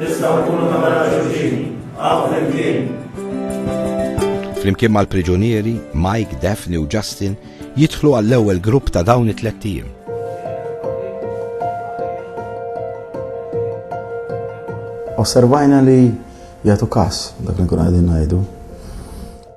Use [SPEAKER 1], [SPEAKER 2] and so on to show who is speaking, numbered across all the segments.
[SPEAKER 1] Nistgħu nkunu ta' mara xulxin, hawn flimkien. Flimkien
[SPEAKER 2] mal-priġunieri, Mike, Daphne u Justin jidħlu għall-ewwel grupp ta' dawn it-tlet tim.
[SPEAKER 3] Osservajna li jagħtu kas dak li nkun qegħdin ngħidu.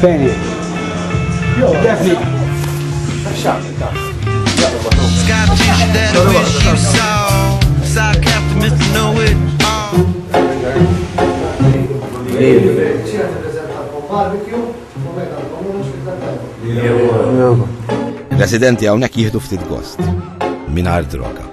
[SPEAKER 4] Fejn? Jo, defni.
[SPEAKER 2] Residenti hawnhekk jieħdu ftit gost mingħajr droga.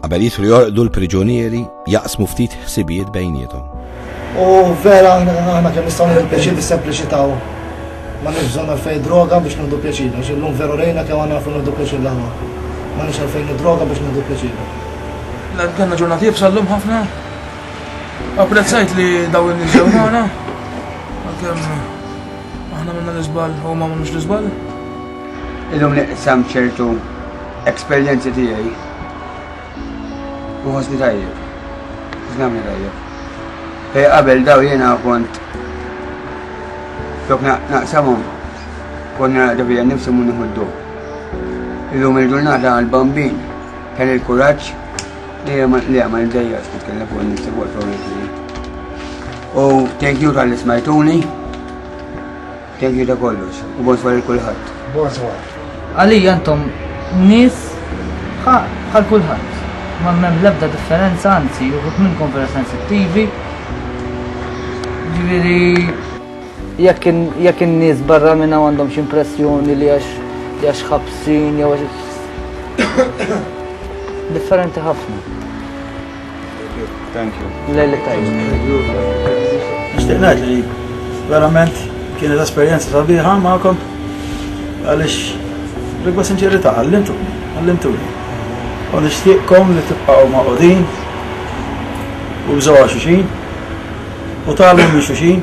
[SPEAKER 2] Qabel jidħlu jorqdu l-priġunieri jaqsmu ftit ħsibijiet bejniethom. U
[SPEAKER 5] vera aħna kemm nistgħu nagħmlu pjaċir bis-sempliċità ma nix bżonn għalfejn droga biex nħdu pjaċir, għax illum veru rejna kemm għandna nafu nħdu pjaċir l-għamma. Ma nix għalfejn droga biex nħdu pjaċir. Għanna
[SPEAKER 6] ġurnati jibsa l-lum ħafna. Apprezzajt li daw il-nizzaw maħna. Għakem, aħna minna l-izbal, u ma minnux l-izbal.
[SPEAKER 7] Illum niqsam ċertu eksperjenzi tiegħi u ħossni tajjeb. Ħossni tajjeb. Fej qabel daw jiena kont flok naqsamhom kont naqda bija nifsi mu nieħu Illum il-ġurnata għal-bambin kien il-kuraġġ li għamma l-dejja tkellem fuq nifsi fuq U thank you tal-ismajtuni. Thank you ta' kollox u bonsoir il kulħadd. Bonsoir.
[SPEAKER 5] Għalija intom
[SPEAKER 8] nies bħal kulħadd. Ma mem lebda differenza anzi juħut minnkom vera sensittivi. Ġifieri jekk in-nies barra minn hawn għandhom x'impressjoni li għax għax ħabsin jew għax differenti ħafna.
[SPEAKER 9] Thank you. Lejlek tajjeb.
[SPEAKER 5] Nixtieq ngħid li verament kienet esperjenza sabiħa magħkom għaliex rigwa sinċerità għallimtu, għallimtu. U nixtieqkom li tibqgħu ma' qudin u bżgħu xuxin u tagħlmu minn xuxin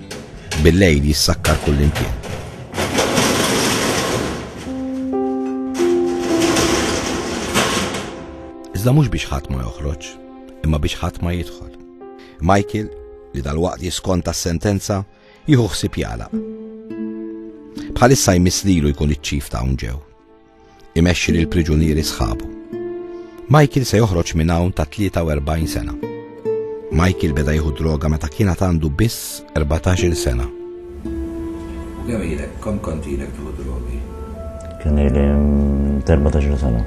[SPEAKER 2] Bil-lejl jissakkar kullimkien. Iżda mhux biex ħadd ma joħroġ, imma biex ħadd ma jidħol. Michael, li dal-waqt jiskonta s-sentenza, jieħu ħsib jala. Bħalissa jmiss lilu jkun iċ-ċif ta' ġew. imexxi lil priġunieri sħabu. Michael se joħroġ minn hawn ta' 43 sena. Michael beda jieħu droga meta kien għandu biss 14 sena. U kemm ilek, kom
[SPEAKER 10] kontilek tieħu drogi? Kien ili
[SPEAKER 11] 14 sena.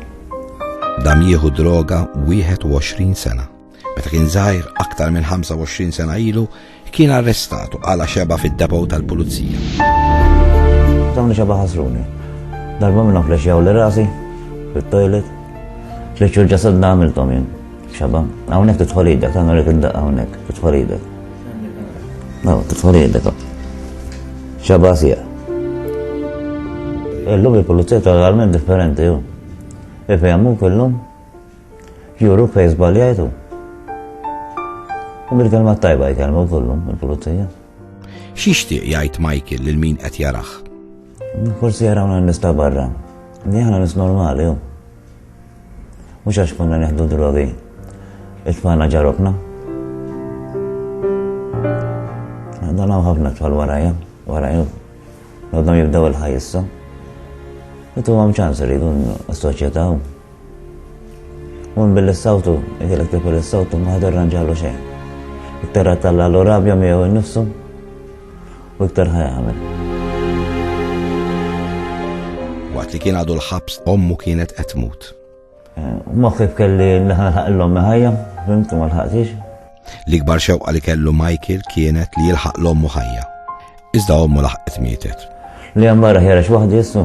[SPEAKER 11] Dam
[SPEAKER 2] jieħu droga 21 sena. Meta kien żgħir, aktar minn 25 sena ilu, kien arrestat u qala' xebgħa fid-depot tal-pulizija.
[SPEAKER 11] Dawni xebgħa ħasruni. Darba minnhom flexxjaw li rasi fit-toilet. Tliet xhur ġasad għamilthom jien. Xebgħa. Hawnhekk tidħol idek, tagħna li kien daqqa hawnhekk, tidħol idek. Naw, tidħol idek. Xebgħa sieq. Illum il-pulizija totalment differenti, ju. Ifehmu kellhom Juru fej zbaljajtu. U bil-kelma tajba jkellmu kollu, il-pulizija. Xixtieq
[SPEAKER 2] jgħid Michael lil min qed jaraħ? Forsi
[SPEAKER 11] jarawna nista barra. Li aħna nis normali, u. Mhux għax konna neħdu drogi. Itfana ġarokna. Dan hawn ħafna tfal warajja, warajja. Għadhom jibdew il-ħajja issa. Itu għam ċans rridu s-soċjetà Mur billi s-sawtu, jgħidilek tipel is-sawtu ma ħad irranġalu xejn. Iktar qed talla l-urabja miegħu nnifsu u iktar ħajamel.
[SPEAKER 2] Waqt li kien għadu l-ħabs ommu kienet qed tmut. Eh, Moħħi
[SPEAKER 11] kelli nħalħaq l-ommi ħajja, fimtu ma lħaqtix. L-ikbar
[SPEAKER 2] xewqa li kellu Michael kienet li jilħaq l-ommu ħajja. Iżda ommu laħqet mietet. Li għamma raħjara
[SPEAKER 11] xwaħdi jissu.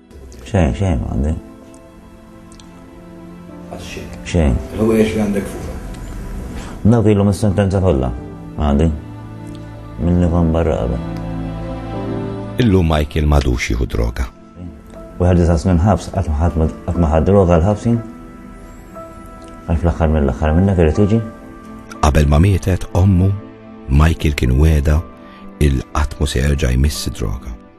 [SPEAKER 2] Xejn, xejn
[SPEAKER 11] għandi. Xejn. Hu jiex għandek
[SPEAKER 10] fuq. Dawk
[SPEAKER 11] ilhom is-sentenza kollha għandi. Minni kon barra qabel.
[SPEAKER 2] Illum Michael madux jieħu droga. Wieħed disa
[SPEAKER 11] snin ħabs qatt ma ħad droga l-ħabsin. Għal fl-aħħar mill-aħħar minnek irid tiġi. Qabel ma
[SPEAKER 2] mietet ommu, Michael kien weda il-qatmu se jerġa' jmiss droga.